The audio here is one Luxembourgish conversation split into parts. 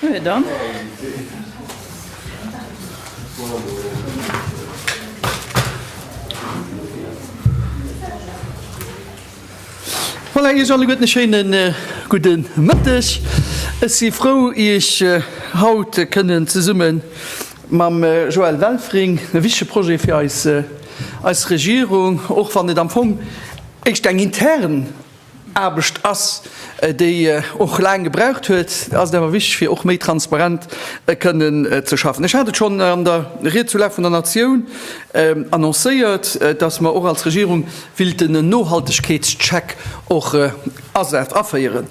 Huet an. Voilà, Iech alleguerten e schéinen gudde Mëtteg. Ech si frou, Iech haut kënnen zesumme mam Joël Welfring e wichtege Projet fir eis Regierung, och wann et am Fong éischt eng intern, Aarbecht ass, déi och laang gebraucht huet, ass et awer wichteg, fir och méi transparent kënnen ze schaffen. Ech hat et schonn an der Ried zur Lag vun der Natioun annoncéiert, dass mer och als Regierung willten en Nohaltegkeetscheck och aféieren.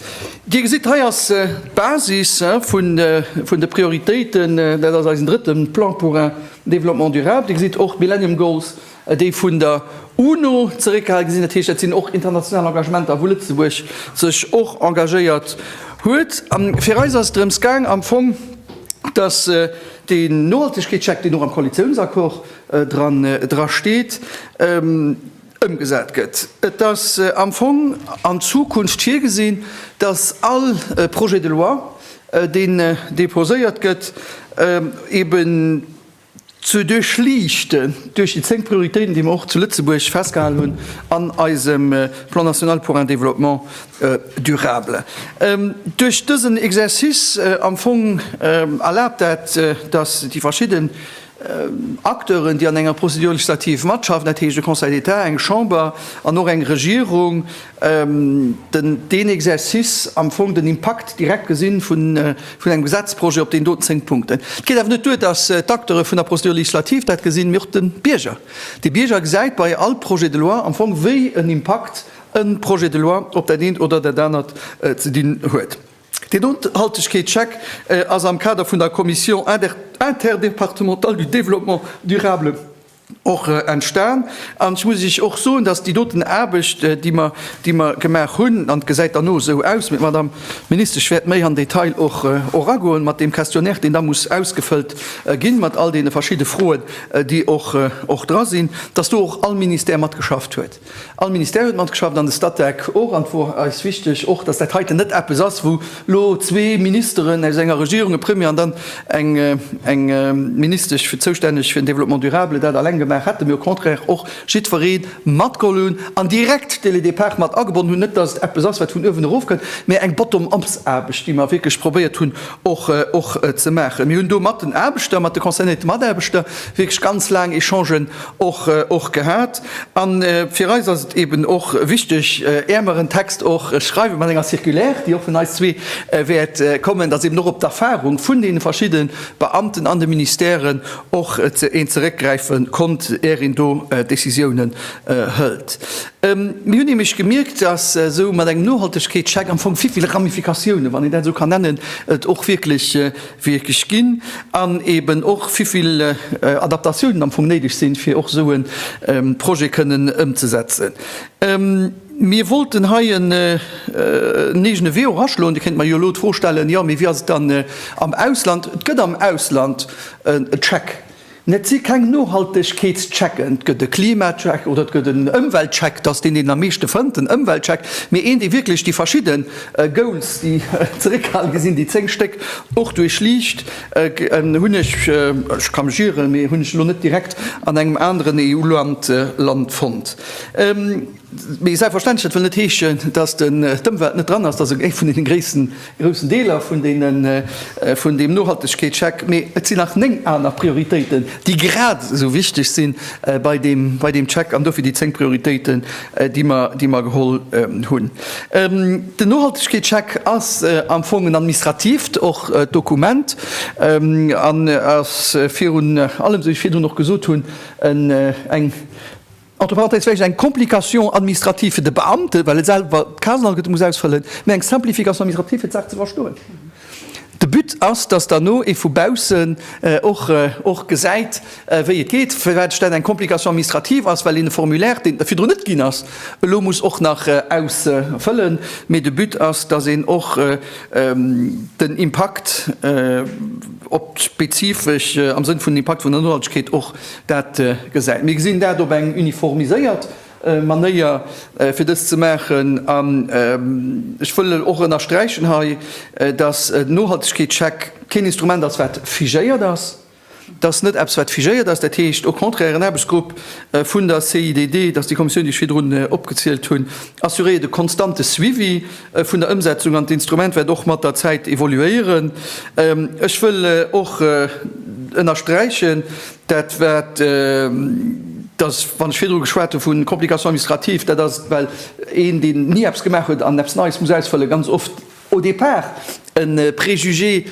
Dir gesitt, hei ass d'Basis vun de Prioritéiten, dat ass eisen drëtte Plan pour un développement durable. Dir gesitt och d'Millennium Goals, déi vun der UNO zeréckgehale gesinn, dat heescht, dat sinn och international Engagementer, wou Lëtzebuerg sech och engagéiert huet. A fir eis ass et drëms gaang am Fong, dass dee Nohaltegkeetscheck, deen och am Koalitiounsaccord dra steet, ëmgesat gëtt. Et ass am Fong an Zukunft virgesinn, dass all Projet de loi, deen deposéiert gëtt, eeben, ze duerchliichten duerch déi zéng Prioritéiten, déi mer och zu Lëtzebuerg festgehalen hunn an eisem Plan national pour un développement durable. Duerch dësen Exercice am Fong erlaabt dat, dass déi verschidden Acteuren, déi an enger Procédure législative matschaffen, dat heescht e Conseil d'État, eng Chamber an och eng Regierung, deen Exercice am Fong den Impakt direkt gesinn vun engem Gesetzprojet op deen doten zéng Punkten. Et geet awer net duer, dass d'Acteure vun der Procédure législative dat gesinn, mee och de Bierger. De Bierger gesäit bei all Projet de loi am Fong, wéi en Impakt e Projet de loi op dat eent oder dat anert ze dinn huet. Deen Nohaltegkeetscheck ass am Kader vun der Commission interdépartementale du développement durable och entstan. An ech muss Iech och soen, dass déi doten Aarbecht, déi mer, déi mer gemaach hunn, an et gesäit dann och esou aus, mee d'Madame Ministesch wäert méi am Detail och eragoen, mat deem Questionnaire, deen da muss ausgefëllt ginn, mat all deene verschidde Froen, déi och, och dra sinn, dass do och all Ministère matgeschafft huet. All Ministère huet matgeschafft an de Statec och. An et wor eis wichteg och, dass dat heiten net eppes ass, wou lo zwee Ministeren aus enger Regierung, e Premier an dann eng Ministesch fir zoustänneg fir den Développement durable, dat alleng gemaach hätten, mee au contraire och jiddweree matgeholl hunn an direkt d'Élus des Parcs mat agebonnen hunn. Net, dass et eppes ass, wat vun uewen erof kënnt, mee eng Bottom-ups-Aarbecht, déi mer wierklech probéiert hunn och ze maachen. Mir hunn do mat den Aarbechter, mat de concernéierte Mataarbechter wierklech ganz laang Echangen och gehat. An fir eis ass et eben och wichteg, är mer en Text och schreiwen mat enger Circulaire, déi och vun eis zwee wäert kommen, dass eben och op d'Erfahrung vun deene verschidde Beamten an de Ministèren och een zeréckgräife konnt, är een do Décisiounen hëlt. Mir hunn nämlech gemierkt, dass esou mat engem Nohaltegkeetscheck am Fong vill, vill Ramifikatiounen, wann een dat esou kann nennen, et och wierklech wierklech ginn an eben och wéivill Adaptatiounen am Fong néideg sinn, fir och esou e Projet kënnen ëmzesetzen. Mir wollten hei en eegene Vue och aschloen. Dir kéint mer jo elo d'Fro stellen, Jo, mee wéi ass et dann am Ausland? Et gëtt am Ausland e Check. Mä et si keng Nohaltegkeetschecken. Et gëtt e Klimacheck oder et gëtt en Ëmweltcheck, datt deen, deen am meeschte fënnt, den Ëmweltcheck, mee een, dee wierklech déi verschidde Goals, déi zeréckgehale gi sinn, déi zéng Stéck, och duerchliicht. Hunn ech, ech ka mech ieren, mee hunn ech elo net direkt an engem aneren EU-Land fonnt. Mee selbstverständlech, dat wëll net heeschen, datt d'Ëmwelt net dran ass, dat ass ee vun deene groussen Deeler vun deem Nohaltegkeetscheck, mee et sinn nach néng aner Prioritéiten, déi grad esou wichteg si bei deem Check, an dofir déi zéng Prioritéiten, déi mer geholl hunn. Den Nohaltegkeetscheck ass am Fong en administratiivt och Dokument an ass virun allem, esou wéi ech virdrun och gesot hunn, eng, Entre parenthèses vläicht eng Complication administrative fir de Beamte, well e selwer d'Casenalgëtte muss ausfëllen, mä eng Simplification administrative, fir d'Saach ze verstoen. De But ass, dass dann ee vu baussen och gesäit, wéi et geet, firwat et dann eng Complication administrative ass, well een e Formulaire, deen et virdrun net ginn ass, elo muss och nach ausfëllen. Mee de But ass, dass een och den Impakt op d'spezifesch, am Sënn vun Impakt vun der Nohaltegkeet, och Dat gesäit. Mir gesinn dat op eng uniformiséiert Manéier, fir dëst ze maachen. An ech wëll och ënnersträichen hei, dass den Nohaltegkeetscheck keen Instrument ass, wat figéiert ass. Et ass net eppes, wat figéiert ass. Dat heescht au contraire, en Aarbechtsgrupp vun der CIDD, dass déi Kommissioun, déi ech virdrun opgezielt hunn, assuréiert e konstante Suivi. vun der Ëmsetzung an d'Instrument wäert och mat der Zäit evoluéieren. Ech wëll och ënnersträichen, dat wat, dass, wann ech virdru geschwat hu vu Complications administratives, dat ass, well een, deen ni eppes gemaach huet an eppes Neies muss ausfëllen, ganz oft au départ, e Préjugé,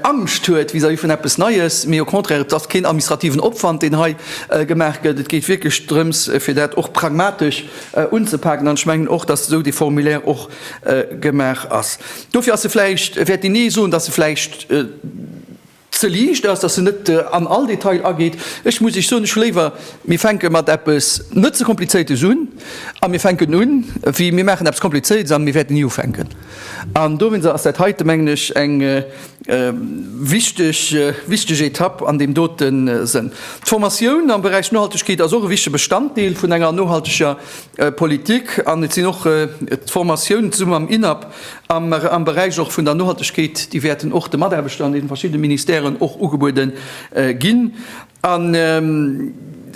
Angscht huet vis-à-vis vun eppes Neies, mee au contraire, et ass keen administrativen Opwand, deen hei gemaach gëtt. Et geet wierklech drëms, fir dat och pragmatesch unzepaken. An ech mengen och, dass esou dee Formulaire och gemaach ass. Dofir ass e vläicht, wäert een ee soen, dass e vläicht, ze liicht ass, dass se net an all Detail ageet. Ech muss Iech soen, ech hu léiwer, mir fänke mat eppes net ze Komplizéiertes un a mir fänken un, wéi mir maachen eppes Komplizéiertes a mir wäerten ni ufänken. An dowéinst ass dat heite, mengen ech, eng wichteg, wichteg Etapp an deem dote Sënn. D'Formatioun am Beräich Nohaltegkeet ass och e wichtige Bestanddeel vun enger nohalteger Politik an et sinn och d'Formatioun, zesumme mam INAP, Am Beräich och vun der Nohaltegkeet, déi wäerten och de Mataarbechter an deene verschiddene Ministèren och ugebuede ginn. A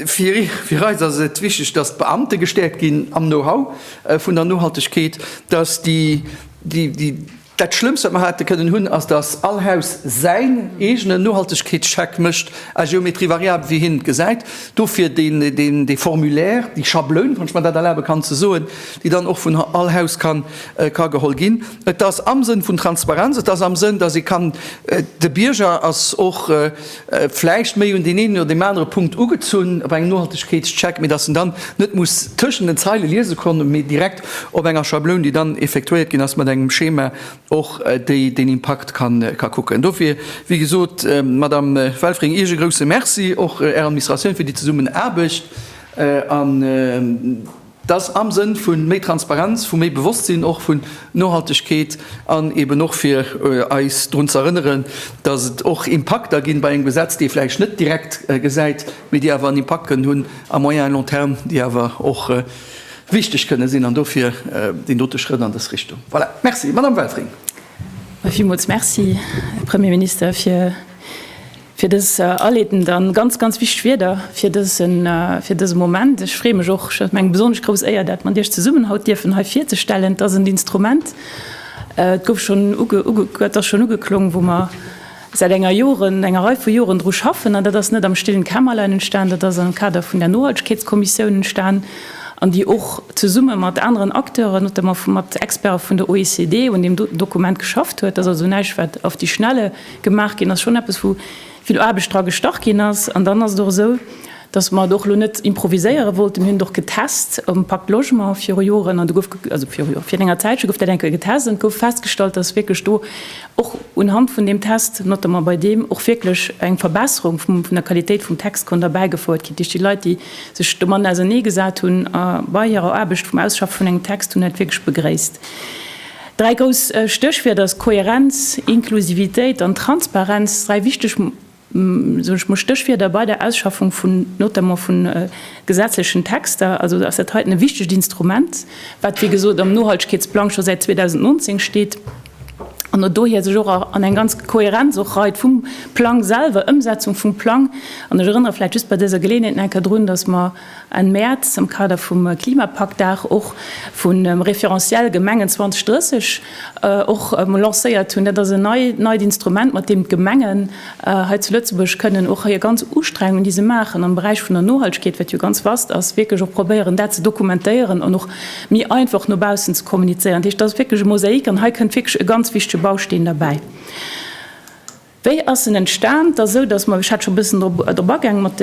fir eis ass et wichteg, datt d'Beamte gestäerkt ginn am Know-how vun der Nohaltegkeet, datt déi, dat Schlëmmst, wat mer hate kënnen hunn, ass, datt all Haus säin eegenen Nohaltegkeetscheck mécht à géométrie variable, wéi hien et gesäit. Dofir dee Formulaire, déi Schabloun, wann ech mer dat erlabe kann ze soen, déi dann och vun all Haus ka geholl ginn. Et ass am Sënn vun Transparenz, et ass am Sënn, dass ee kann, de Bierger ass och vläicht méi un deen eenen oder deem anere Punkt ugezunn op engem Nohaltegkeetscheck, mee dass en dann net muss tëschent den Zeile liese kommen, mee direkt op enger Schabloun, déi dann effektuéiert ginn ass, mat engem Schema och, déi den Impakt ka kucken. Dofir, wéi gesot, Madame Welfring, Iech e grouse Merci, och Ärer Administratioun fir déi Zesummenaarbecht. Dass am Sënn vu méi Transparenz, vu méi Bewosstsinn och vun Nohaltegkeet an eben och fir eis drun ze erënneren, dass et och Impakter ginn bei engem Gesetz, déi ee vläicht net direkt gesäit, mee déi awer en Impakt kënnen hunn à moyen et long terme, déi awer och wichteg kënnen sinn. An dofir deen dote Schrëtt an dës Richtung. Voilà, merci. Madame Welfring. Villmools merci, Här Premierminister, fir. Fir dës Aletten dann ganz, ganz wichteg Wierder fir dëse Moment. Ech freeë mech och, et ass mir eng besonnesch grouss Éier, dat mat Iech zesummen haut dierfen hei virzestellen. Et ass en Instrument, et gouf schonn et ass schonn ugeklongen, wou mer säit enger Joren, enger Rei vu Joren dru schaffen. An dat ass net am stillen Kämmerlein entstan, dat ass am Kader vun der Nohaltegkeetskommissioun entstan, an déi och zesumme mat aneren Acteuren, notamment mat Experte vun der OECD, un deem Dokument geschafft huet. Dat ass also näischt, wat auf die Schnelle gemaach ginn ass, schonn eppes wou vill Aarbecht dra gestach ginn ass. An dann ass et och esou, datt mer et och elo net improviséiere wollten. Mir hunn et och getest um Pacte Logement viru Joren an do gouf, also viru Joer, fir enger Zäitche gouf dat eng Kéier getest an et gouf festgestallt, datt wierklech do och unhand vun deem Test, notamment bei deem, och wierklech eng Verbesserung vum, vun der Qualitéit vum Text konnt erbäigefouert ginn duerch déi Leit, déi sech domatten ausernee gesat hunn a bei hirer Aarbecht vum Ausschaffe vun engem Text hunn dat wierklech begréisst. Dräi grouss Stéchwierder si Kohärenz, Inklusivitéit an Transparenz, dräi wichteg Stéchwierder bei der Ausschaffung vun notamment vun gesetzlechen Texter. Also ass dat heiten e wichtegt Instrument, wat wéi gesot am Nohaltegkeetsplang scho säit 2019 steet an no dohier sech och an eng ganz Kohärenz och reit vum Plang selwer, Ëmsetzung vum Plang. An ech erënnere vläicht just bei dëser Geleeënheet nach eng Kéier drun, dass mer, Enn Mäerz am Kader vum Klimapakt, Dag och vun Référentiel Gemengen 2030, och emol lancéiert hunn. Dat ass en neit Instrument, mat deem d'Gemengen hei zu Lëtzebuerg kënnen och hir ganz Ustrengungen, déi se maachen am Beräich vun der Nohaltegkeet, wat jo ganz vast ass, wierklech och probéieren, dat ze dokumentéieren an och méi einfach no baussen ze kommunizéieren. Dat heescht, dat ass wierklech e Mosaik an hei kënnt wierklech e ganz wichtege Bausteen derbäi. Wéi ass en entstan? Et ass esou, datt mer, ech hat scho e bëssen drop agaang, mat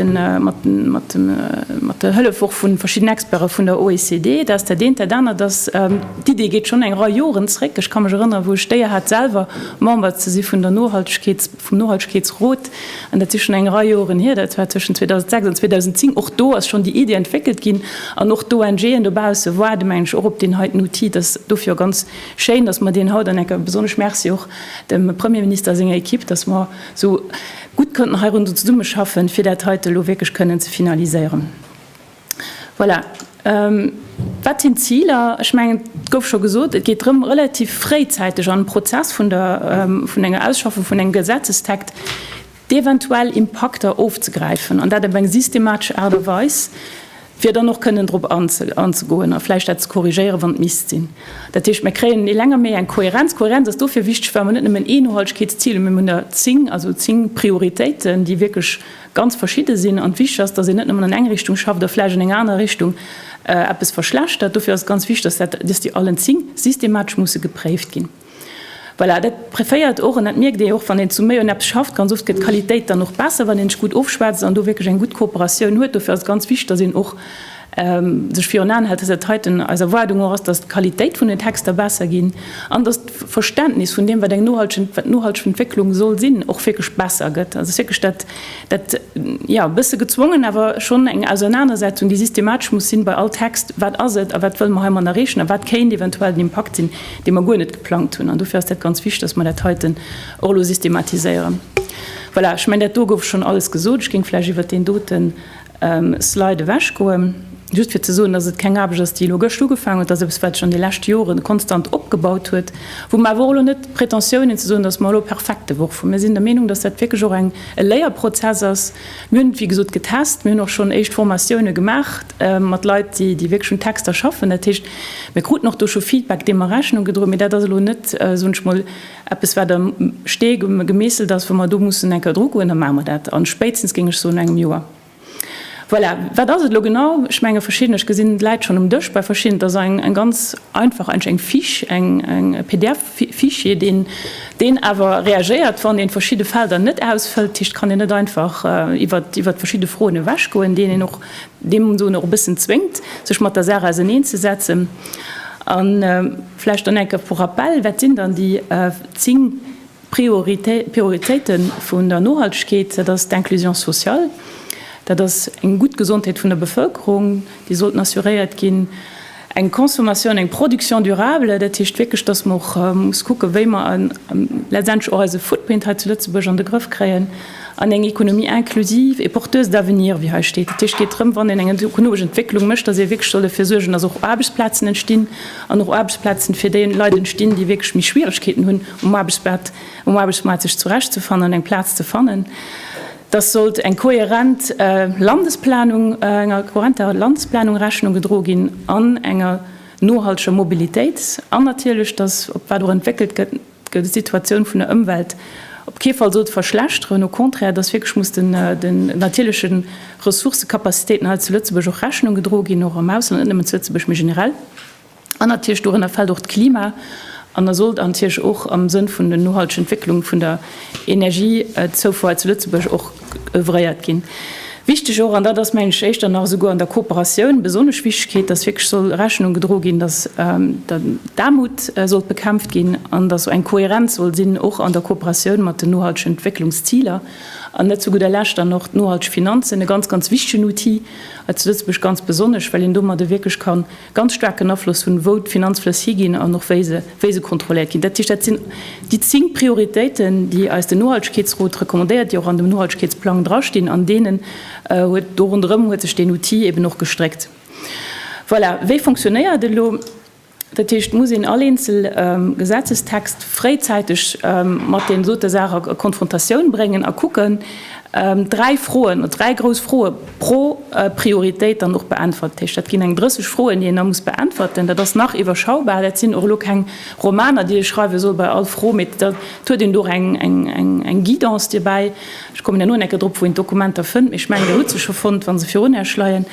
der Hëllef och vu verschidden Experte vun der OECD, dass dat eent, dat anert ass, d'Idee geet schonn eng Rei Joren zréck. Ech ka mech erënnere wou ech d'Éier hat selwer Member ze si vun der Nohaltegkeets, vum Nohaltegkeetsrot, an dat si schonn eng Rei Joren hier, dat war tëschent 2006 an 2010. Och do ass schonn déi Idee entwéckelt ginn an och d'ONGen dobausse waarde meng ech och op deen heiten Outil, dass dofir och ganz Schéin, dass mer deen haut an enker besonnesch Merci och dem Premierminister a senger Equipe, dass mer esou gutt konnten heirondum zesummeschaffen, fir dat heite elo wierklech kënnen ze finaliséieren. Voilà. Wat sinn d'Ziler? Ech mengen, et gouf scho gesot, Et geet drëm, relativ fréizäiteg an de Prozess vun enger Ausschaffung vun engem Gesetzestekt Déi eventuell Impakter ofzegräifen, an dat op eng systematesch Aart a Weis, fir dann och kënnen drop anzegoen a vläicht dat ze korrigéieren, wann et misst sinn. Dat heescht, mir kréien ni länger méi eng Kohärenz. Kohärenz ass dofir wichteg, well mer net nëmmen ee Nohaltegkeetszil hunn, mee mir hunn der zéng, also zéng Prioritéiten, déi wierklech ganz verschidde sinn. An wichteg ass, datt een net nëmmen an eng Richtung schafft a vläicht an enger anerer Richtung eppes verschlechtert. Dofir ass et ganz wichteg, datt déi allen zéng systematesch musse gepréift ginn. Voilà, dat préféiert och, an dat mierkt ee och, wann een zu méi un eppes schafft, ganz oft gëtt d'Qualitéit dann och besser, wann een sech gutt ofschwätzt an do wierklech eng gutt Kooperatioun huet. Dofir ass et ganz wichteg, datt een och sech virun Aen hält, datt dat heiten eis Erwaardung och ass, datt d'Qualitéit vun den Texter besser ginn an datt d'Verständnis vun deem, wat eng nohalteg, wat nohalteg Entwécklung soll sinn, och wierklech besser gëtt. Also et ass wierklech dat, dat, jo, e bësse gezwongen, awer schonn eng Ausernanersetzung, déi systematesch muss sinn bei all Text, Wat ass et a wat wëlle mer heimann erreechen a wat kéint eventuell den Impakt sinn? dee mer guer net geplangt hunn, an dofir ass dat ganz wichtig, dass mer dat heiten och elo systematiséieren. Voilà, ech mengen, dat do gouf schonn alles gesot. Ech géing vläicht iwwert deen dote Slide ewechgoen, just fir ze soen, dass et keng Aarbecht ass, déi elo gëscht ugefaangen huet. Dat ass eppes, wat sech an de leschte Jore konstant opgebaut huet, wou mer awer och elo net d'Pretentiounen, ze soen, dass mer elo perfekt derwuch vu. Mir sinn der Meenung, dass dat wierklech och eng, e Léierprozess ass. Mir hunn et, wéi gesot, getest. Mir hunn och schonn éischt Formatiounen gemaach mat Leit, déi wierklech un Texter schaffen. Dat heescht, Mir kruten och do scho Feedback, deem mer Rechnung gedroen, mee dat ass elo net, soen ech mol, eppes, wat am Stee gemeesselt ass, wou mer do mussen eng Kéier drugoen. Da maache mer dat, a spéitstens, géing ech soen, no engem Joer. Voilà. Wat ass et elo genau? Ech menge verschidden, ech gesinn d'Läit schonn um Dësch, bei verschidden, et ass eng ganz einfach, eigentlech eng Fiche, eng PDF-Fichier, deen deen awer reagéiert, wann ee verschidde Felder net ausfëllt. Dat heescht, et kann een net einfach iwwert verschidde Froen ewechgoen, deen een och dee mol soen och e bëssen zwéngt, sech mat der Saach auseneen ze setzen. A vläicht dann enke vu Rappell, Wat sinn dann déi zéng Prioritéite vun der Nohaltegkeet? Dat ass d'Inclusion sociale, dat ass eng gutt Gesondheet vun der Bevëlkerung, déi sollten assuréiert ginn. Eng Consommation, eng Production durable, dat heescht wierklech, dass mer och muss kucken, wéi mer letztendlech och eise Footprint hei zu Lëtzebuerg an de Grëff kréien an eng Économie inclusive et porteuse d'avenir, wéi hei steet. Dat heescht, et geet drëm, wann een eng ökologesch Entwécklung mécht, dass ee wierklech soll derfir suergen, dass och Aarbechtsplazen entstinn an och Aarbechtsplazen fir déi Leit entstinn, déi wierklech méi Schwierigkeeten hunn, um Aarbechtsmaart sech zurechtzefannen an eng Plaz ze fannen. dass sollt eng kohärent Landesplanung, enger kohärenter Landesplanung Rechnung gedroe ginn an enger nohalteger Mobilitéit an natierlech, dass op wat och entwéckelt gëtt, gëtt Situatioun vun der Ëmwelt op kee Fall sollt verschlechteren, au contraire, dass wierklech muss den den natierleche Ressourcëkapazitéiten hei zu Lëtzebuerg och Rechnung gedroe ginn, och am Ausland, net nëmmen zu Lëtzebuerg, mee generell. An natierlech dorënner fält och d'Klima an a sollt natierlech och am Sënn vun der nohalteger Entwécklung vun der Energiezoufuer hei zu Lëtzebuerg och oeuvréiert ginn. Wichteg och, an dat ass, mengen ech, éischter nach esouguer an der Kooperatioun, besonnesch Wichtigkeet, dass wierklech soll Rechnung gedroe ginn, dass d'Aarmut sollt bekämpft ginn an dass esou eng Kohärenz soll sinn, och an der Kooperatioun mat den nohaltegen Entwécklungsziler. An net zu gudder Lescht dann och d'nohalteg Finanzen, e ganz, ganz wichtigen Outil hei zu Lëtzebuerg, ganz besonnesch, well een domadde wierklech kann, ganz staarken Afloss hunn, wou d'Finanzflëss higinn an och wéi se, wéi se kontrolléiert ginn. Dat heescht, dat sinn déi zéng Prioritéiten, déi eis den Nohaltegkeetsrot recommandéiert, déi och an dem Nohaltegkeetsplang drastinn, an deenen huet, do ronderëm huet sech deen Outil eben och gestréckt. Voilà, wéi fonctionnéiert e elo? Dat heescht, muss een all eenzel Gesetzestext fréizäiteg mat deem dote Saach a Konfrontatioun bréngen a kucken, dräi Froen, dräi grouss Froe, Pro Prioritéit dann och beäntwert. Dat heescht, dat ginn eng 30 Froen, déi een da muss beäntwerten. Dat ass nach iwwerschaubar. Dat sinn och elo keng Romaner, déi ee schreiwe soll bei all Fro, mee et huet een do och eng Guidance dobäi. Ech kommen herno nach eng Kéier drop, wou een d'Dokumenter fënnt, mee ech mengen, Dir hutt se scho fonnt, wa se virun Iech leien.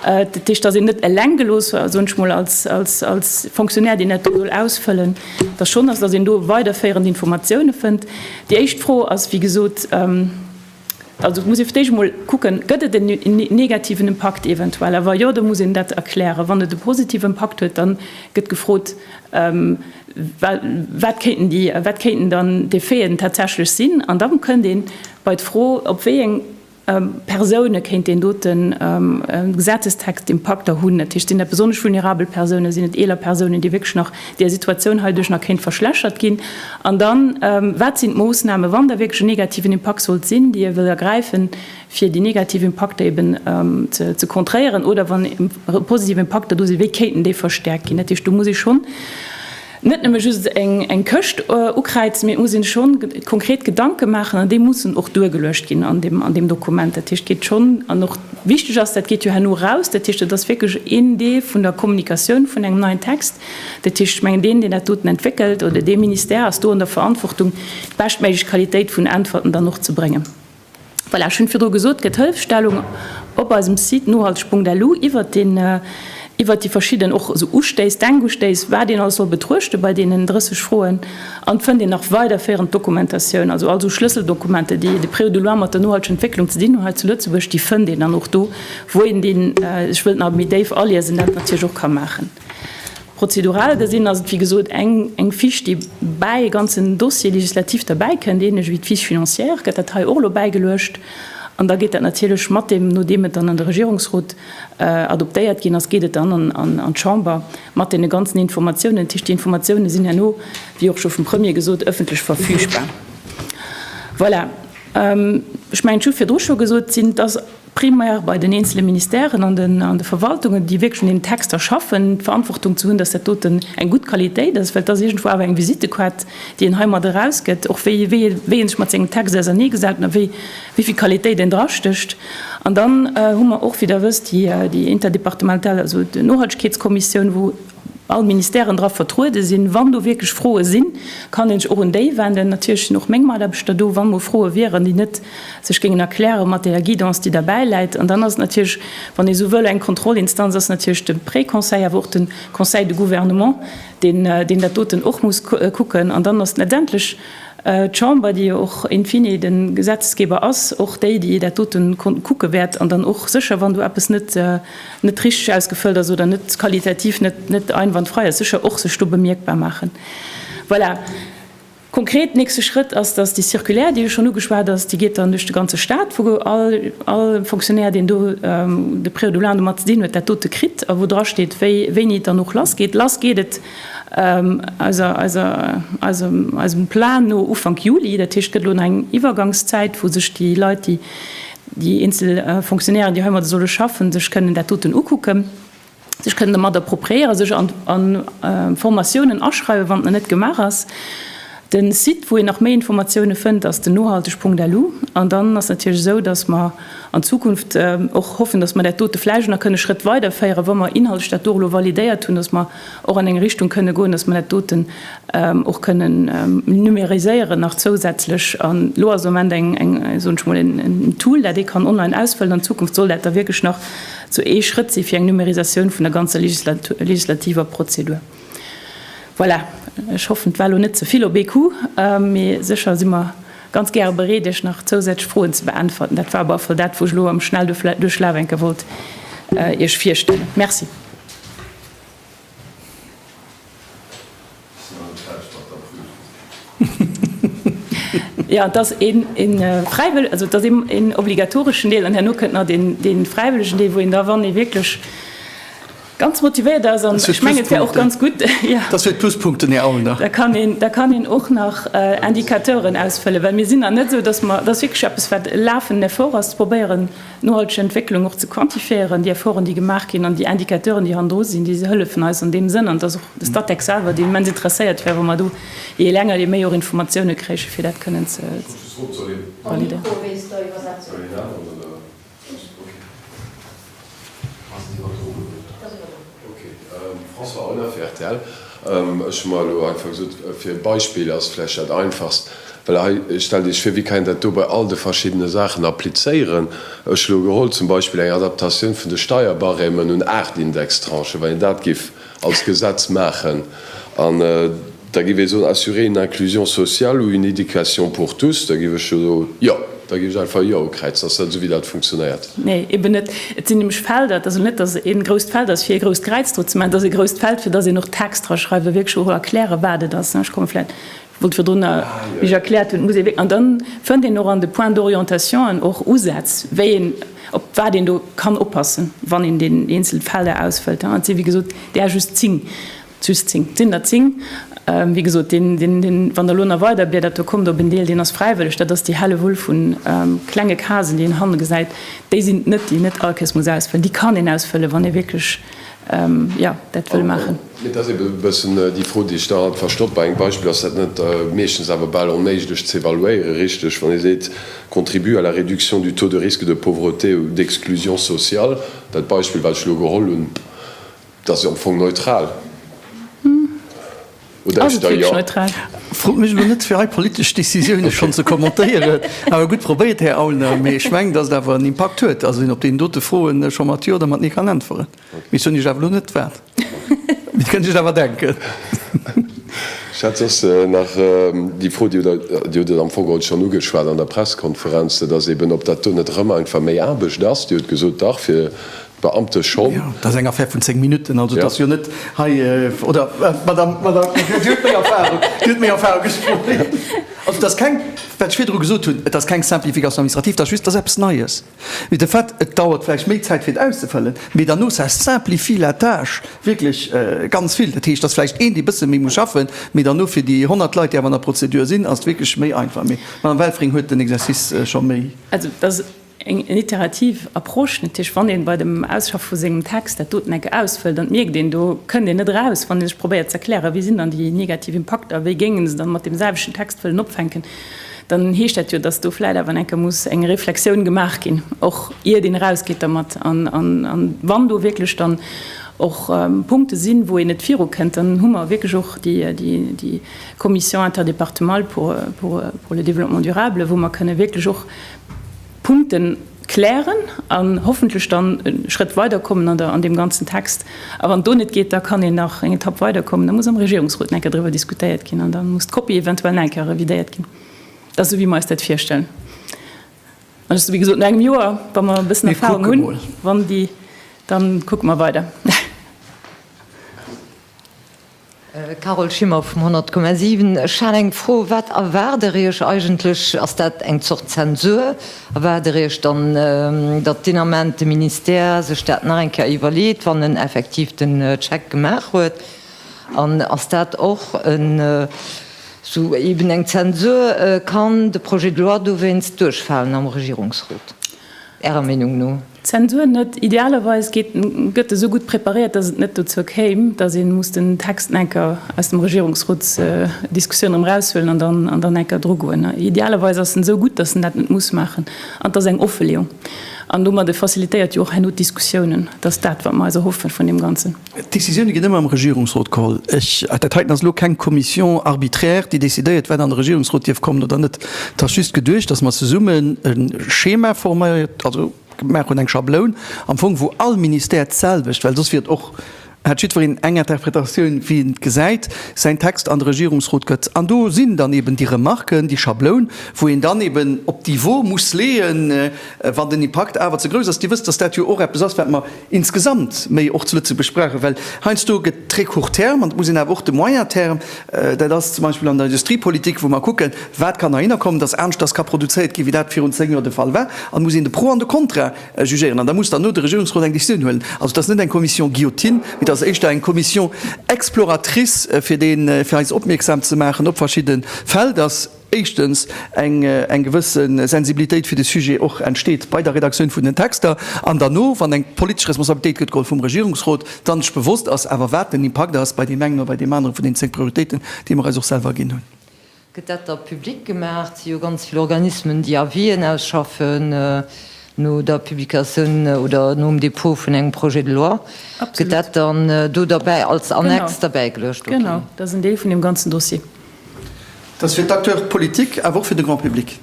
Dat heescht, dass een net eleng gelooss war, soen ech mol, als Fonctionnaire, deen dat do soll ausfëllen, dass schonn ass, dass een do weiderféierend Informatioune fënnt. Déi éischt Fro ass, wéi gesot, Also muss ee fir d'éischt emol kucken, gëtt et en negativen Impakt eventuell? A wa jo, da muss een dat erklären. Wann et e positive Impakt huet, da gëtt gefrot, wat kéinten dann d'Effeten tatsächlech sinn? An da kënnt ee bei d'Fro, op wéi eng Persoune kéint deen doten Gesetzestext Impakter hunn. Dat heescht, sinn dat besonnesch vulnerabel Persoune? Sinn et eeler Persounen, déi wierklech nach där Situatioun heiduerch nach kéint verschlechert ginn? An dann, wat sinn d'Moossnamen, wann da wierklech en negativen Impakt sollt sinn, déi ee wëll ergräifen, fir déi negativ Impakter eben ze contréieren? Oder wann e positive Impakter do sinn, wéi kéinten déi verstäerkt ginn? Dat heescht, do muss ee schonn net nëmme just eng Këscht ukräizen, mee et muss ee sech schonn konkret Gedanke maachen. An déi mussen och duergeluecht ginn an deem Dokument. Dat heescht, et geet schonn, an och wichteg ass, dat geet jo herno eraus, dat heescht, et ass wierklech een Deel vun der Kommunikatioun vun engem neien Text, Dat heescht, ech mengen, deen, deen dat doten entwéckelt, oder dee Ministère ass do an der Verantwortung, d'beschtméiglech Qualitéit vun Äntwerten dann och ze bréngen. Voilà, ech hunn virdru gesot, gëtt Hëlfstellung op eisem Site nohalteg.lu iwwert den, iwwert déi verschidden och esou Ustéiss, Denkustéiss, wat een alles soll betruechten bei deenen 30 Froen. An fënnt een nach weiderféierend Dokumentatioun, also all esou Schlësseldokumenter, déi de Preu de loi mat der nohalteger Entwécklung ze dinn hunn hei zu Lëtzebuerg, déi fënnt een dann och do, wou een deen sech wëllt nach méi déif aliesen, dat natierlech och ka maachen. Prozedural gesinn ass et, wéi gesot, eng Fiche, déi bäi e ganzen Dossier législatif derbäikënnt, ähnlech wéi d'Fiche financière gëtt dat hei och elo bäigeluecht. An da geet dat natierlech mat deem, nodeem et dann an de Regierungsrot adoptéiert ginn ass, geet et dann an d'Chamber mat deene ganzen Informatiounen. Dat heescht, déi Informatiounen sinn herno, wéi och scho vum Premier gesot, ëffentlech verfügbar. Voilà, ech mengen, ech hu virdru scho gesot, sinn, dass, primär bei den eenzele Ministèren an de Verwaltungen, déi wierklech un deenen Texter schaffen, d'Verantwortung ze hunn, datt dat doten eng gutt Qualitéit ass, well et ass iergendwou awer eng Visittequart, déi een heimat erausgëtt, och wéi een sech mat sengem Text auserneegesaten a wéi vill Qualitéit een drastécht. An dann hu mer och, wéi Der wësst, déi interdepartemental, also d'Nohaltegkeetskommissioun, wou all Ministèren dra vertruede sinn. Wann do wierklech Froe sinn, kann ee sech och un déi wenden. Natierlech sinn och meng Mataarbechter do, wa mol Froe wieren, déi net sech géingen erkläre mat deeër Guidance, déi derbäi läit. An dann ass et natierlech, wann ee esou wëll, eng Kontrollinstanz ass natierlech de Préconseil, awer och de Conseil de gouvernement, deen dat doten och muss kucken. An dann ass letztendlech d'Chamber, déi jo och in fine de Gesetzgeber ass, och déi, déi dat doten kucke wäert an dann och sécher, wann do eppes net, net richteg ausgefëllt ass oder net qualitativ net net einwandfrei ass, sécher och sech do bemierkbar maachen. Voilà. Konkret nächste Schrëtt ass, datt déi Circulaire, déi jo schonn ugeschwat ass, déi geet dann duerch de ganze Stat, wou all all Fonctionnaire, deen do de Prêt au doublant domat ze dinn huet, dat dote kritt a wou drasteet, wéi wéini et dann och lass geet. Lass geet et eiser eiser eisem eisem Plan no Ufank Juli. Dat heescht, et gëtt elo nach eng Iwwergangszäit, wou sech déi Leit, déi déi eenzel Fonctionnairen, déi heimadde solle schaffen, sech kënnen dat doten ukucken, sech kënnen domat appropriéieren, sech a Formatiounen aschreiwen, wann et nach net gemaach ass. De Site, wou een nach méi Informatioune fënnt, ass den nohalteg.lu. An dann ass natierlech esou, dass mer an Zukunft och hoffen, dass mer dat dote vläicht nach kënne Schrëtt weiderféieren, wa mer inhaltlech dat do och elo validéiert hunn, dass mer, och an eng Richtung kënne goen, dass mer dat doten och kënnen numériséieren nach zousätzlech. An elo ass am Moment eng, soen ech mol, en Tool, dat ee kann online ausfëllen. An Zukunft soll dat da wierklech nach sou ee Schrëtt si fir eng Numérisatioun vun der ganzer legislativer Prozedur. Voilà, ech hoffen, 't war elo net ze vill op ee Coup, mee sécher si mer ganz gäre bereet, Iech nach zousätzlech Froen ze beäntwerten. Dat war op alle Fall dat, wou ech elo am Schnelldurchlaf enke wollt Iech virstellen. Merci. Jo, et ass een obligatoreschen Deel an herno kënnt nach dee fräiwëllegen Deel, wou een da, wann ee wierklech ganz motivéiert ass, an ech mengen, et wär och ganz gutt, da kann een och nach Indicateuren ausfëllen, well mir sinn nach net esou, dass mer, et ass wierklech eppes, wat e lafenden Effort ass, ze probéieren, Nohalteg Entwécklung och ze quantifiéieren, déi Efforten, déi gemaach ginn, an déi Indicateuren, déi hannendru sinn, déi hëllefen eis an deem Sënn. An et ass och de Statec selwer, deen immens interesséiert wär, wa mer do jee länger, jee méi och Informatioune kréichen, fir dat kënnen ze validéieren. François Aulner fir rtl, Ech hu mer elo einfach gesot, fir e Beispill ass vläicht dat einfachst, well hei, stellt Iech vir, wéi kann een dat do bei all de verschiddene Saachen applizéieren? Ech elo geholl zum Beispill eng Adaptatioun vun de Steierbarèmen un aacht Indextranchen, wa een dat géif als Gesetz maachen an, Da géif ee soen, assurer une inclusion sociale ou une éducation pour tous. Da géif ech jo do Jo. Da géif ech einfach Jo ukräizen. Ass dat esou, wéi dat funktionéiert? Nee, eben net. Et sinn nämlech Felder. Et ass also net, dass et ee grousst Feld ass, fir ee grousst Kräiz dru ze maachen. Et ass ee grousst Feld, fir dass een och Text draschreiwe, wierklech och erkläre wat et ass. Ech komme vläicht, ech wollt virdrunner, wéi ech erkläert hunn, et muss ee wierk-, an da fënnt een och an de Points d'orientationen och Usätz, wéi een, op wat een do kann oppassen, wann een deen eenzel Felder ausfëllt. Et si wéi gesot där just zéng. Just zéng. Sinn der zéng. Wéi gesot, deen, deen, wann Der elo nach weiderbliedert, do kommt op en Deel, deen ass fräiwëlleg, dat ass déi Hellewull vu klenge Casen, déi een hanne gesäit, déi sinn et net, déi net all Caisse muss ausfëllen. Déi kann een ausfëllen, wann ee wierklech, jo, dat wëll maachen. Et ass eeben e bëssen déi Fro, déi ech da alt verstoppen. Bei engem Beispill ass dat net meeschtens awer bal onméiglech ze evaluéieren, richteg? Wann ee seet, contribue à la réduction du taux de risque de pauvreté ou d'exclusion sociale, dat Beispill, wat ech elo geholl hunn, Et ass jo am Fong neutral, oder? Ass et wierklech neutral? Frot mech elo net, fir hei politesch Decisioune schonn ze kommentéieren. Awer gutt probéiert, Här Aulner. Mee ech mengen, datt et awer en Impakt huet. Also, wien op deenen dote Froen scho mat Jo oder mat Nee kann äntweren. Mee soen Iech awer elo net wat. Mee et kënnt Iech awer denken. Ech hat soss nach déi Fro, Dir hutt et am Fong haut schonn ugeschwat an der Pressekonferenz, dat ass eeben, ob dat do net erëm einfach méi Aarbecht ass. Dir hutt gesot, Dach, fir Beamte schonn. Jo, dat ass eng Affaire vun zéng Minutten. Also et ass jo net hei, oder, Madame, Madame, Dir huet méi Erfahrung, Dir huet méi Erfahrung, ech froen méi. Also et ass keng, wat ech virdru gesot hunn, et ass keng Simplification administrative, et ass just, et ass eppes Neies. Mee de Fait, et dauert vläicht méi Zäit fir et auszefëllen, mee derno, ça simplifie la tâche wierklech ganz vill. Dat heescht, et ass vläicht een, dee e bësse méi muss schaffen, mee derno fir déi honnert Leit, déi awer an der Prozedur sinn, ass et wierklech méi einfach. Mee d'Madame Welfring huet den Exercice scho méi. Eng iterativ Approche, natierlech, wann ee bei dem Ausschaffe vu sengem Text dat doten enke ausfëllt, an et mierkt een, do kënnt een net eraus, wann ee sech probéiert ze erklären, wéi sinn dann déi negativ Impakter, wéi géing een se dann mat deem selwechten Text wëllen opfänken, dann heescht dat jo, datt do vläit awer enke muss eng Reflexioun gemaach ginn, och iert een erausgeet dermat. An wann do wierklech dann och Punkte sinn, wou een net virukënnt, dann hu mer wierklech och déi Commission interdépartemale pour le développement durable, wou mer kënne wierklech och Punkten klären an hoffentlech dann e Schrëtt weiderkommen an der, an deem ganzen Text. A wann do net geet, da kann een nach eng Etapp weiderkommen. Da muss am Regierungsrot nach eng Kéier driwwer diskutéiert ginn an da muss d'Kopie eventuell nach eng Kéier revidéiert ginn. Dat ass esou, wéi mer eis dat virstellen. An ech, wéi gesot, no engem Joer, wa mer e bëssen Erfahrung hunn, wann déi, dann kucke mer weider. Carole Schimmer vum 100,7. Ech hat eng Fro, Wat erwaart Der Iech eigentlech? Ass dat eng Zort Zensur? Erwaart Der Iech dann, datt deen Ament de Ministère sech dat nach eng Kéier iwwerleet, wann en effektiv den Check gemaach huet? An ass dat och esou eeben eng Zensur? Kann de Projet de loi dowéinst duerchfalen am Regierungsrot Ärer Meenung no? Zensur net. Idealerweis gëtt e sou gutt preparéiert, datt et net dozou kéim, datt ee muss den Text nach enker aus dem Regierungsrotsdiskussioun erëm eraushuelen an dann an dann enker drugoen. Idealerweis ass en esou gutt, datt en dat net muss maachen. An et ass eng Offeleeung an domadde facilitéiert jo och herno d'Diskussiounen. Et ass dat, wat mer eis erhoffen vun deem Ganzen. D'Decisioune ginn ëmmer am Regierungsrot geholl. Ech, dat heiten ass elo keng Commission arbitraire, déi decidéiert, wat an de Regierungsrot dierf kommen oder net. Et ass just geduecht, datt mer zesummen e Schema forméiert, also gemaach hunn, eng Schabloun am Fong, wou all Ministère d'selwecht, well soss wier et och, hätt jiddwereen eng Interpretatioun, wéi en et gesäit, säin Text an de Regierungsrot gëtt. An do sinn dann eben déi Remarken, déi Schabloun, wou een dann eben op d'Niveau muss leeën, wann den Impakt awer ze grouss ass. Dir wësst, datt dat jo och eppes ass, wat mer, insgesamt méi och zu Lëtzebuerg brauchen, well heiansdo gëtt très court terme an et muss een awer och de moyen terme, dat ass zum Beispill an der Industriepolitik, wou mer kucken, wat kann heihinner kommen, dass anescht dass ka produzéiert ginn, wéi dat virun zéng Joer de Fall war, an et muss een de Pro an de Kontra jugéieren an da muss dann no de Regierungsrot eng Décisioun huelen. Also et ass net eng Commission Guillotine, mee et ass éischter eng Commission exploratrice, fir dee fir eis opmierksam ze maachen op verschidde Fäll, dass, éischtens eng eng gewësse Sensibilitéit fir de Sujet och entsteet bei der Redaktioun vun den Texter an derno, wann eng politesch Responsabilitéit gëtt geholl vum Regierungsrot, dann sech bewosst ass awer, wat den Impakt ass bei deem engen oder bei deem anere vun den zéng Prioritéiten, déi mer eis och selwer ginn hunn. Gëtt dat da public gemaach? Et si jo ganz vill Organismen, déi Avis'en ausschaffen no der Publikatioun oder nom Dépôt vun engem Projet de loi. Gëtt dat dann do derbäi als Annex derbäigeluecht? Genau, dat ass en Deel vun deem ganzen Dossier. Et ass fir d'Acteurs politiques, awer och fir de Grand public.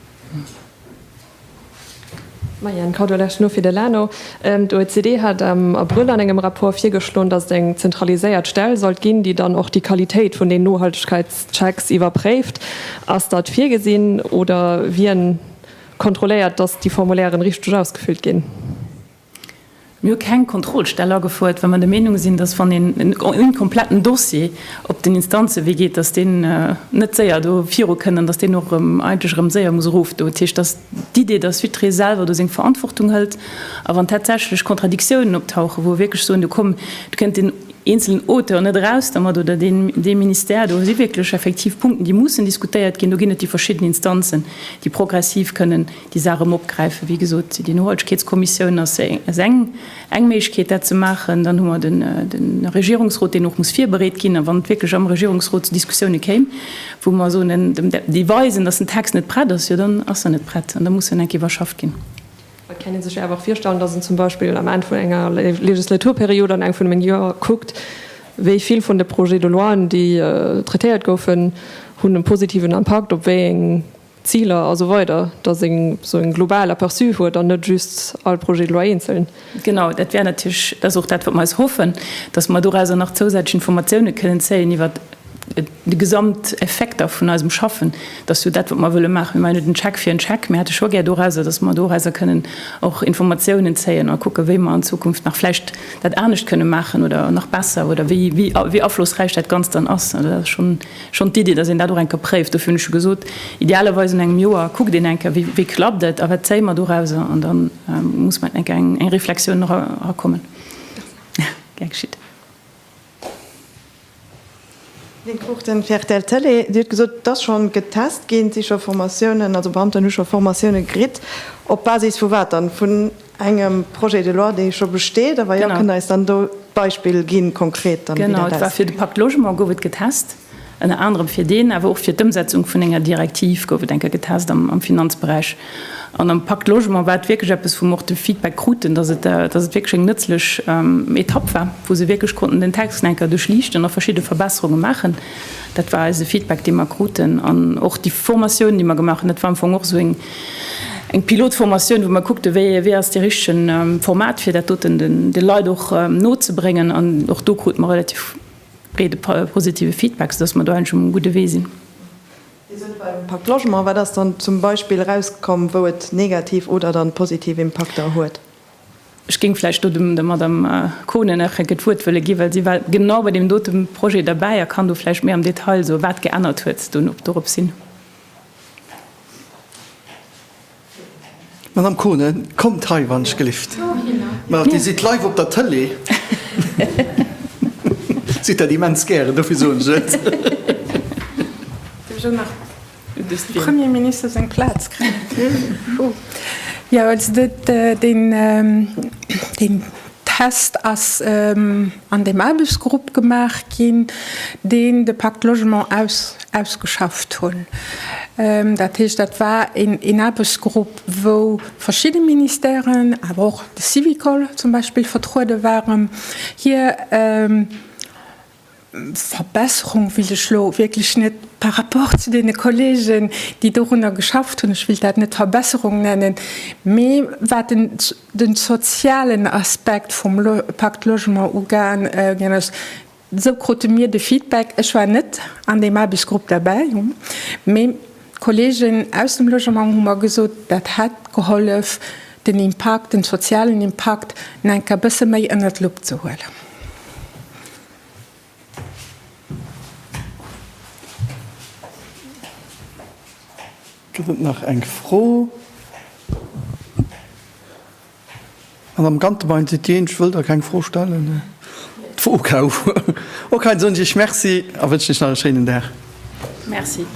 Maja, en Cadeau lech no fir de Lano. D'OECD hat am Abrëll an engem Rapport virgeschloen, datt et eng zentraliséiert Stell sollt ginn, déi dann och déi Qualitéit vun den Nohaltegkeitschecks iwwerpréift. Ass dat virgesinn oder wien kontrolléiert, datt déi Formulairen richteg ausgefüllt ginn? Mir hu keng Kontrollstell agefuert, well mer der Meenung sinn, datt wann een en kompletten Dossier op den Instanzewee geet, datt deen net séier do viru kënn an datt deen och erëm eigentlech erëm séier muss erofdoen. Dat heescht, datt d'Idee, datt Sudre selwer do seng Verantwortung hëlt a wann tatsächlech Kontradiktiounen optauchen, wou e wierklech soen, do komm, do kënnt deen eenzelen Auteur net eraus dermat oder deen dee Ministère, do si wierklech effektiv Punkten, déi mussen diskutéiert ginn, do ginn et déi verschidden Instanzen, déi progressiv kënnen déi Saach erëm opgräifen. Wéi gesot, déi Nohaltegkeetskommissioun ass eng Méiglechkeet, dat ze maachen. Dann hu mer de Regierungsrot, deen och muss virbereet ginn. A wann et wierklech am Regierungsrot zu Diskussioune kéim, wou mer soen, déi weisen, datt den Text net prett ass, jo dann ass en net prett an da muss en enk iwwerschafft ginn. Et kennt ee sech jo awer och virstellen, datt een zum Beispill am Enn vun enger Legislaturperiod an engem vun den Joer kuckt, wéi vill vun de Projets de loien, déi traitéiert goufen, hunn e positiven Impakt op wéi eng Ziler a sou weider, dass een esou e global Aperçu huet an net just all Projet de loi eenzeln. Genau, dat wär natierlech, dat ass och dat, wat mer eis hoffen, dass mer dorauser nach zousätzlech Informatioune kënnen zéien iwwert de Gesamteffekter vun eisem Schaffen. Dat ass jo dat, wat mer wëlle maachen. Mir maachen net en Check fir en Check. Mir hätte scho gär dorauser, dass mer dorauser kënnen och Informatiounen zéien a kucken, wéi mer an Zukunft nach vläicht dat anescht kënne maachen oder nach besser oder wéi, wéi aflossräich dat Ganzt dann ass. Dat ass schonn. Schonn d'Iddi, dass een dat och eng Kéier préift, dofir hunn ech jo gesot, idealerweis un engem Joer kuckt een eng Kéier, wéi klappt et a wat zéie mer dorauser, an da muss mat eng Kéier eng Reflexioun erakommen. Gär geschitt. Lynn Cruchten, rtl Télé, Dir hutt gesot, et ass scho getest ginn, et si scho Formatiounen, also Beamten hu scho Formatioune kritt. Op Basis vu wat dann? Vun Engem Projet de loi, dee scho besteet. Awer jo, kënnt Der eis dann do d'Beispill ginn, konkret dann, wéi dat ausgesäit? Genau, et war fir de Pacte Logement gouf et getest, ënner anerem fir deen, awer och fir d'Ëmsetzung vun enger Direktiv gouf et eng Kéier getest am Finanzberäich. An am Pacte Logement war et wierklech eppes, wou mer och de Feedback kruten, dass et wierklech eng nëtzlech Etapp war, wou se wierklech konnten den Text nach eng Kéier duerchliichten a verschidde Verbesserunge maachen. Dat war eise Feedback, dee mer kruten. An och déi Formatioun, déi mer gemaach hunn, dat war am Fong och esou eng Eng Pilotformatioun, wou mer kuckte wéi ass dee richtegen Format, fir dat doten de Leit och nozebréngen. An och do krute mer relativ breede positive Feedback, soudass mer do eigentlech um gudde Wee sinn. Dir sot beim Pacte Logement, wat ass dann zum Beispill erauskomm, wou et negativ oder dann positiv Impakter huet? Ech géing vläicht do dem der Madamm Kohnen nach enke d'Wuert wëlle ginn, well si war genau bei deem dote Projet derbäi a kann do vläicht méi am Detail soen, wat geännert huet doropshin. Madame Kohnen, kommt hei wann ech gelift. Ma Dir sidd live op der Tëlee. Sidd dat immens gären, dofir soen ech et. Ech hu nach dem Premier Minister seng Plaz kréien. Jo, also deen Test ass. an deem Aarbechtsgrupp gemaach ginn, deen de Pacte Logement ausgeschafft hunn. Dat heescht, dat war een Aarbechtsgrupp, wou verschidde Ministèren, awer och de Syvicol zum Beispill vertruede waren, hir Verbesserung wëll ech elo wierklech net par rapport zu deene Kollegen, déi dorunner geschafft hunn, ech wëll dat net Verbesserung nennen, mee wat en Den sozialen Aspekt vum Pacte Logement ugaan gin ass, esou krute mir de Feedback, ech war net an deem Aarbechtsgrupp derbäi, mee d'Kollegen aus dem Logement hu mer gesot, dat hätt gehollef, den Impakt, den sozialen Impakt, enker e bësse méi ënnert d'Lupp ze huelen. Gëtt et nach eng Fro? An am Gantebein sidd Dir eenzesch, wëllt Der keng Fro stellen? D'Fro gouf okay, da soen ech Iech Merci a wënschen Iech nach e schéinen Dag. Merci.